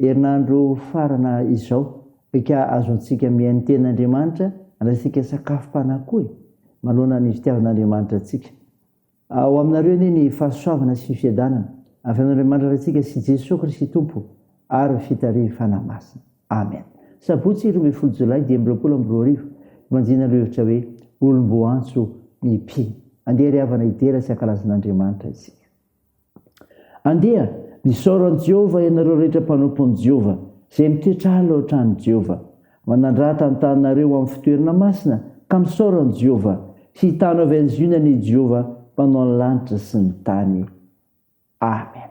Herinandro farana izao ka azontsika mihaino tenin'Andriamanitra handraisantsika sakafom-panahy koa e! Manohana ny fitiavan'Andriamanitra antsika. Ao aminareo anie ny fahasoavana sy ny fiadanana avy amin'Andriamanitra Raintsika sy Jesoa Kristy Tompo ary fitarihiny Fanahy Masina. Amen. Sabotsy roa ambin'ny folo jolay dimy amby roapolo amby roa arivo, Fanjinina lohahevitra hoe Olom-boantso ny mpino. Andeha ry havana hidera sy hankalaza an'Andriamanitra isika. Andeha, misaora an'i Jehovah ianareo rehetra mpanompon'i Jehovah, izay mitoetra ala ao an-tranon'i Jehovah. Manandrata ny tananareo ho amin'ny fitoerana masina, ka misaora an'i Jehovah. Hitana avy any Ziona anie i Jehovah, Mpanao ny lanitra sy ny tany. Amena.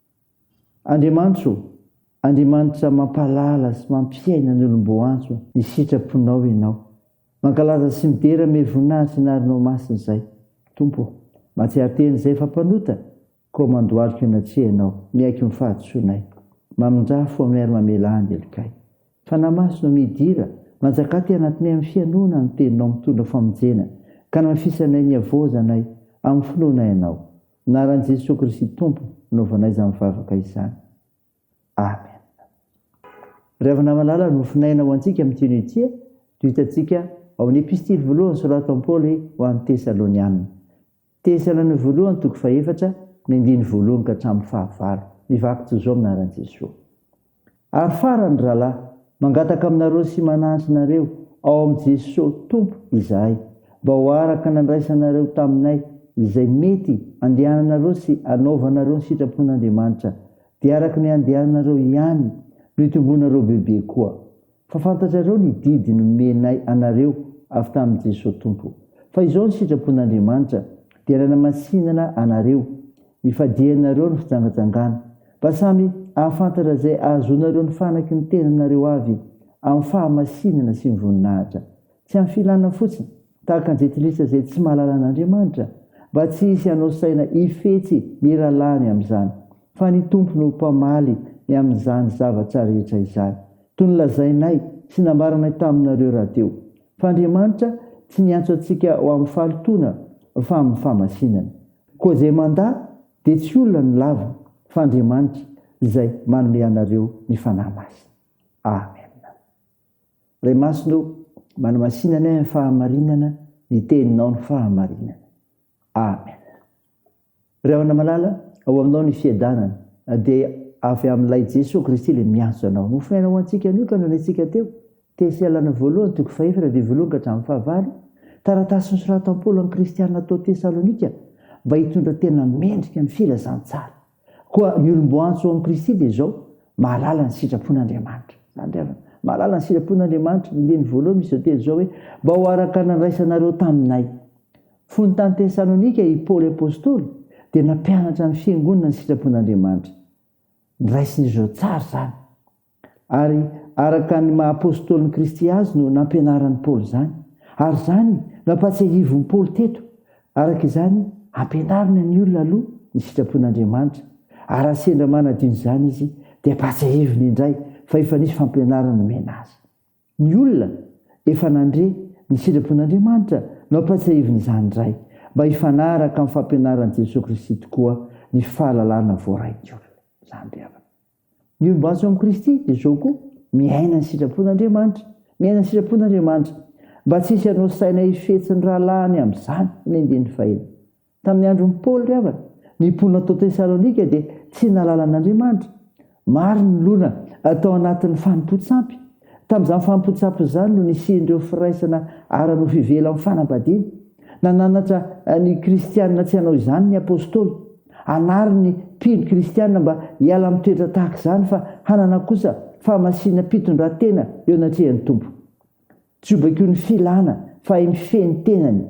Andriamanitro, Andriamanitra mampahalala sy mampiaina ny olom-boantso ny sitraponao Ianao. Mankalaza sy midera amy voninahitry ny anaranao masina izay, Tompo ô. Mahatsiaro tena izay fa mpanota, koa mandohalika eo anatrehanao, miaiky ny fahadisoanay. Mamindrafo aminay ary mamelà ny helokay. Fanahy Masina ô, midira, manjakà aty anatinay amy fihainoana ny Teninao mitondra famonjena, ka namafisanay ny havaozanay amy finoanay Anao. Anaran'i Jesoa Kristy Tompo anaovanay izany vavaka izany. Amen. Ry havana malala, nofinaina aina ho antsika amin'ity noho ity no hitantsika ao amin'ny epistily voalohany soratan'i Paoly ho an'ny Tesalonianina. Tesalonianina voalohany toko fahefatra, ny andininy voalohany ka hatramin'ny fahavalo. Mivaky toy izao ny anaran'i Jesoa. Ary farany rahalahy, mangataka aminareo sy manahy anareo ao amin'i Jesosy Tompo izahay, mba ho araka nandraisanareo taminay izay mety andehananareo sy anaovanareo ny sitrapon'Andriamanitra, dia araka ny andehananareo ihany no itombonareo bebe koa. Fa fantatrareo ny didy nomenay anareo avy tamin'i Jesoa Tompo, fa izao ny sitrapon'Andriamanitra, dia nanamasinana anareo, ifadianareo ny fijangajangana, mba samy hahafantatra izay hahazoanareo ny fanaky ny tenanareo avy amin'ny fahamasinana sy ny voninahitra, tsy amin'ny filana fotsiny, tahaka ny jentilisa izay tsy mahalala an'Andriamanitra, mba tsy hisy hanao saina hifetsy ny rahalahiny amin'izany, fa ny Tompo no mpamaly ny amin'izany zavatra rehetra izany, toy ny lazainay sy nambaranay taminareo rahateo, fa Andriamanitra tsy niantso antsika ho amin'ny fahalotoana, fa amin'ny fahamasinana. Koa izay mandà dia tsy olona no lava, fa Andriamanitra izay manome anareo ny Fanahy Masina. Amena. Ray Masina o, manamasinanay amin'ny fahamarinana ny teninao ny fahamarinana. Amen. Ry Havana Malala, ao aminao ny fiadanana, dia avy amin'ilay Jesoa Kristy ilay miantso anao. Nofonaina ho antsika anio ka noraintsika teo, Tesealana voalohany toko fahefatra andininy voalohany ka hatramin'ny fahavalo, taratasy nosoratan'i Paoly an'ny kristiana tao Tesalonika mba hitondra tena mendrika ny filazantsara. Koa ny olom-boantso ao amin'i Kristy dia izao, mahalala ny sitrapon'Andriamanitra. Izany ry havana. Mahalala ny sitrapon'Andriamanitra. Ny diany voalohany misy izao teny izao hoe, mba ho araka ny nandraisanareo taminay. Fony tany Tesalonika i Paoly apostoly dia nampianatra ny fiangonana ny sitrapon'Andriamanitra. Niraisin'izy ireo tsara izany. Ary araka ny maha Apôstôlin'i Kristy azy no nampianaran'i Paoly izany. Ary izany no ampahatsiahivin'i Paoly teto. Araka izany, ampianarina ny olona aloha ny sitrapon'Andriamanitra, ary raha sendra manadio izany izy, dia ampahatsiahiviny indray fa efa nisy fampianarana nomena azy. Ny olona efa nandre ny sitrapon'Andriamanitra no ampahatsiahiviny izany indray, mba hifanaraka amin'ny fampianaran'i Jesoa Kristy tokoa ny fahalalana voarain'ny olona. Izany ry havana. Ny olom-batsy ao amin'i Kristy dia izao koa, miaina ny sitrapon'Andriamanitra. Miaina ny sitrapon'Andriamanitra. Mba tsy hisy hanao saina hifetsy ny rahalahiny amin'izany ny andininy fahenina. Tamin'ny andron'i Paoly ry havana, ny mponina tao Tesalonika dia tsy nahalala an'Andriamanitra. Maro ny loholona tao anatin'ny fanompoan-tsampy. Tamin'izany fanompoan-tsampy izany no nisian'ireo firaisana ara-nofo ivelan'ny fanambadiana. Nananatra ny Kristianina tsy hanao izany ny apostoly. Hanary ny mpino kristiana mba hiala amin'ny toetra tahaka izany fa hanana kosa fahamasinam-pitondran-tena eo anatrehan'ny Tompo. Jobako ny filana fahay mifehy ny tenany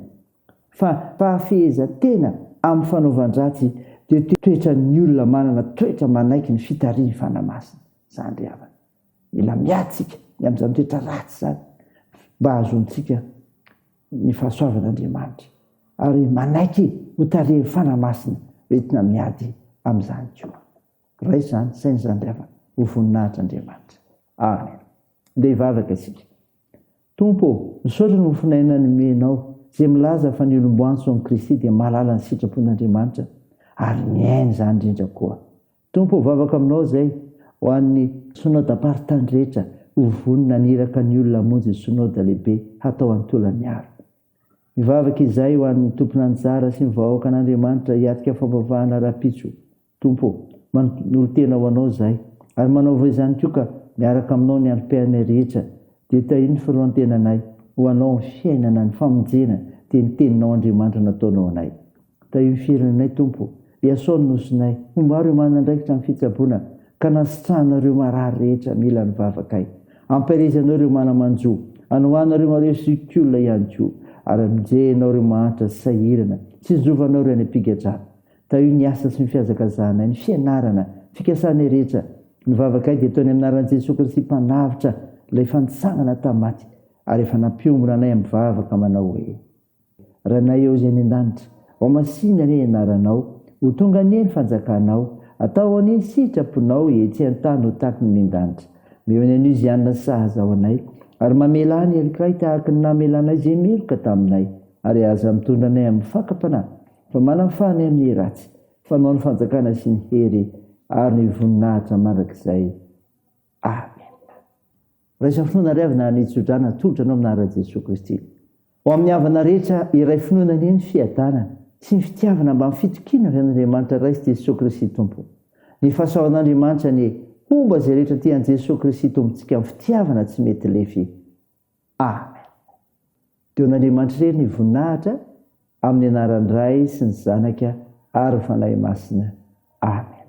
fa fahafehezan-tena amin'ny fanaovan-dratsy dia toetran'ny olona manana toetra manaiky ny fitarihin'ny Fanahy Masina izany ry havana. Mila miady isika ny amin'izany toetra ratsy izany mba hahazoantsika ny fahasoavan'Andriamanitra ary manaiky ho tarihin'ny Fanahy Masina entina miady amin'izany koa. Raiso izany saina izany ry havana, ho voninahitr'Andriamanitra. Amen. Andeha hivavaka isika. Tompo ô, misaotra ny mofon'aina nomenao, izay milaza fa ny olom-boantso amin'i Kristy dia mahalala ny sitrapon'Andriamanitra ary miaina izany indrindra koa. Tompo ô vavaka aminao zay ho an'ny Synoda Mparitany rehetra ho vonona ny iraka ny olona hamonjy ny Synoda lehibe hatao any Tolagnaro. Mivavaka izahay ho an'ny tompon'anjara sy ny vahoakan'Andriamanitra hiatrika fampavahana rahampitso Tompo ô, manolotena ho anao zahay ary manaova izany koa ka miaraka aminao ny RPM rehetra dia tahio ny filohantenanay ho anao ny fiainana ny famonjena dia ny teninao Andriamanitra nataonao anay. Tahio ny firenenay Tompo, Iasao ny Nosinay, homba ireo manandraikitra amin'ny fitsaboana, ka nasitrahana ireo marary rehetra mila ny vavakay. Ampielezanao ireo mana-manjo, anohanao ireo mareho sy olona ihany koa, ary amonjenao ireo mahantra sy sahirana, tsinjovanao ireo any am-pigadrana. Tahio ny asa sy ny fihazakazahanay, ny fianarana, fikasanay rehetra. Ny vavakay dia atao ny amin'ny anaran'i Jesoa Kristy Mpanavotra, Ilay Fanitsangana tamin'ny maty, ary efa nampiombona anay amin'ny vavaka manao hoe. Ranay ao izay any an-danitra. Ao masina anie ianaranao. Ho tonga anie ny fanjakanao. Atao anie ny sitraponao etsy an-tany ho tahaky ny miandanitra. Meo ny anio izay hanina sahaza ho anay. Ary mamelà ny herikay tahaky ny namelanay izay meloka taminay. Ary aza mitondra anay amin'ny fakam-panahy, fa manafaha anay amin'ny ratsy. Fanao ny fanjakana sy ny hery ary ny voninahitra mandrakizay. Amen. Raisa finoana ry havana ny tsodrano atolotra anao amina ra Jesoa Kristy. Ho amin'ny havana rehetra iray finoana anie ny fiadanana sy ny fitiavana mba ny fitokiana avy amin'Andriamanitra Ray sy Jesoa Kristy Tompo. Ny fahasaoan'Andriamanitra anie homba izay rehetra tia an'i Jesoa Kristy Tompontsika amin'ny fitiavana tsy mety lefy. Amen. Deo an'Andriamanitra irery ny voninahitra amin'ny anaran'ny Ray sy ny Zanaka ary ny Fanahy Masina. Amen.